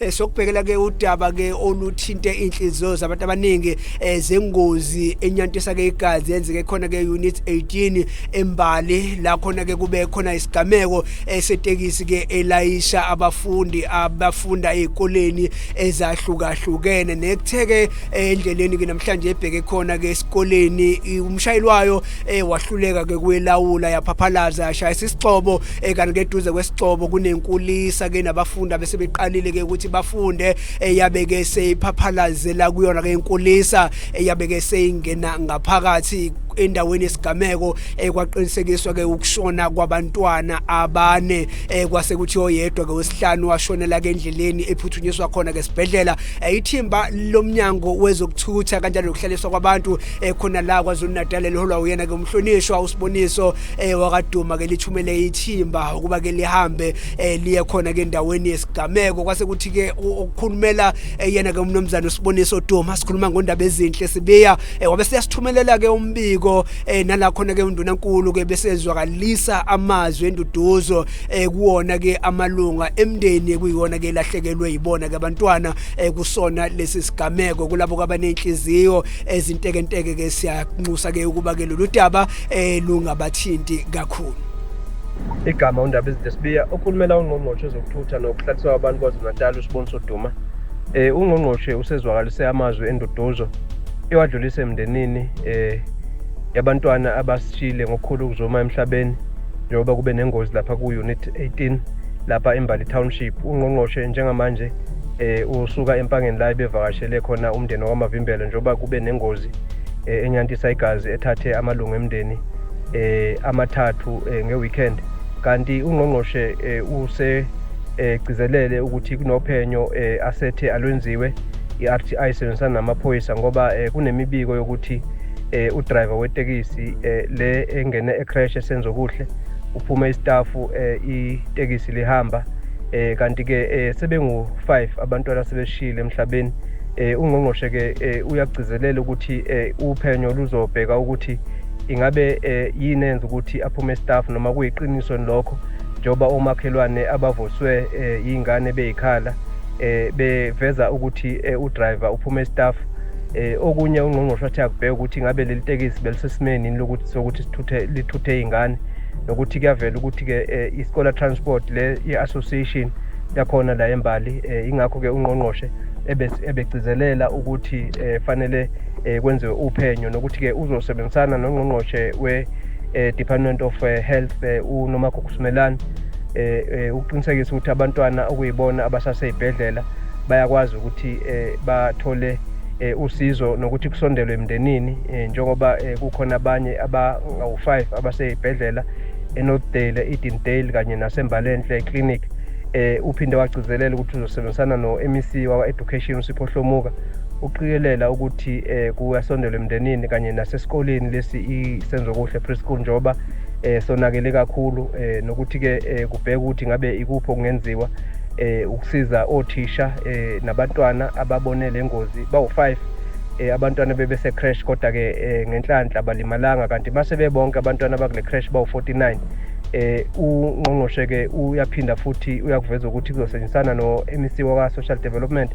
Eh, sokubhekela ke udaba ke oluthinte inhliziyo zabantu abaningi eh, zengozi enyantisa ke igazi yenzeke khona ke unit 18 embali la khona ke kube khona isigameko eh, setekisi ke elayisha abafundi abafunda ezikoleni ezahlukahlukene nekutheke endleleni ke namhlanje ebheke khona ke esikoleni umshayeli wayo wahluleka ke kwelawula yaphaphalaza yashayisa isixobo eh kanti ke duze kwesicobo kunenkulisa ke nabafundi abesebeqalile ke ukuthi bafunde eyabe ke seyiphaphalazelaa kuyona ke inkulisa eyabe ke seyingena ngaphakathi endaweni yesigameko ekwaqinisekiswa eh, ke ukushona kwabantwana abane eh, kwase kuthi oyedwa ke wesihlanu washonela ke endleleni ephuthunyiswa khona ke sibhedlela eh, ithimba lomnyango wezokuthutha kanjalo nokuhlaliswa kwabantu khona la kwaZulu Natal eliholwa uyena ke umhlonishwa usiboniso eh wakaduma ke lithumele ithimba ukuba ke lihambe eh liye khona ke endaweni yesigameko kwase kuthi ke ukukhulumela eh, yena ke umnomzana usiboniso Duma sikhuluma ngondaba ezinhle sibiya eh, wabe siyasithumelela ke umbiko eh, nala khona ke unduna nkulu ke besezwakalisa amazwi enduduzo eh, kuwona ke amalunga emndeni kuyona ke lahlekelwe yibona ke abantwana eh, kusona lesi sigameko kulabo kwabanenhliziyo ezintekenteke ke siyanxusa ke ukuba ke lolu daba eh lungabathinti kakhulu igama undaba izinto sibiya okhulumela ungqongqoshe ezokuthutha nokuhlaliswa kwabantu kwazulu-natal usiboniso duma eh ungqongqoshe usezwakalise amazwi enduduzo ewadlulise emndenini eh yabantwana abasishile ngokukhulu ukuzuma emhlabeni njengoba kube nengozi lapha ku-unit 18 lapha embali township ungqongqoshe njengamanje eh usuka empangeni la ebevakashele khona umndeni wamavimbelo njengoba kube nengozi eh, enyantisa igazi ethathe amalungu emndeni eh, amathathu eh, ngeweekend kanti ungqongqoshe eh, use egcizelele eh, ukuthi kunophenyo eh, asethe alwenziwe i-RTI isebenzisana namaphoyisa ngoba eh, kunemibiko yokuthi eh, udriver wetekisi eh, le engene ecrash esenzo kuhle uphume istafu eh, itekisi lihamba eh, kanti-ke eh, sebengu-5 abantwana sebeshile emhlabeni Eh, ungqongqoshe ke eh, uyagcizelela ukuthi eh, uphenyo luzobheka ukuthi ingabe eh, yini enza ukuthi aphume staff noma kuyiqiniso lokho njengoba omakhelwane abavuswe eh, yingane beyikhala eh, beveza ukuthi eh, udriver uphume staff eh, okunye ungqongqoshe wathi akubheka ukuthi ngabe leli tekisi belisesimeni lokuthi sokuthi sithuthe lithuthe izingane nokuthi kuyavela ukuthi ke eh, iScholar Transport le i-association yakhona la eMbali eh, ingakho ke ungqongqoshe ebegcizelela ukuthi eh, fanele eh, kwenziwe uphenyo nokuthi-ke uzosebenzisana nongqongqoshe we-department eh, of health unomagugusimelane um ukuqinisekisa ukuthi abantwana okuyibona abasaseyibhedlela bayakwazi ukuthi bathole usizo nokuthi kusondelwe emndenini njengoba kukhona abanye abangawu-five abaseyibhedlela enorthdale edendale kanye nasembalenhle clinic eh uphinde wagcizelela ukuthi uzosebenzisana no-MEC wakwa-Education uSipho Hlomuka uqikelela ukuthi eh kuyasondela emndenini kanye nasesikoleni lesi isenzo kuhle preschool njoba eh sonakele kakhulu eh nokuthi ke eh, kubheka ukuthi ngabe ikuphi okungenziwa eh ukusiza othisha eh nabantwana ababone lengozi bawu5 eh abantwana bebese crash kodwa ke eh, ngenhlanhla balimalanga kanti mase bebonke abantwana abakule crash bawu49 eh ungqongqoshe ke uyaphinda futhi uyakuveza ukuthi kuzosetshenzisana no-MEC waka Social Development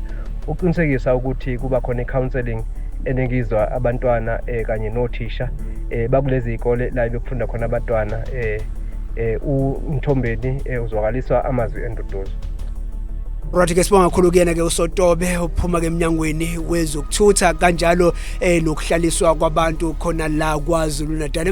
ukuqinisekisa ukuthi kuba khona i-counseling eningizwa abantwana eh kanye nothisha eh bakulezi izikole la bekufunda khona abantwana eh eh uMthombeni eh, uzwakaliswa amazwi enduduzo Right ke sibonga kakhulu kuyena ke uSotobe ophuma ke eminyangweni wezokuthutha kanjalo eh nokuhlaliswa kwabantu khona la kwaZulu Natal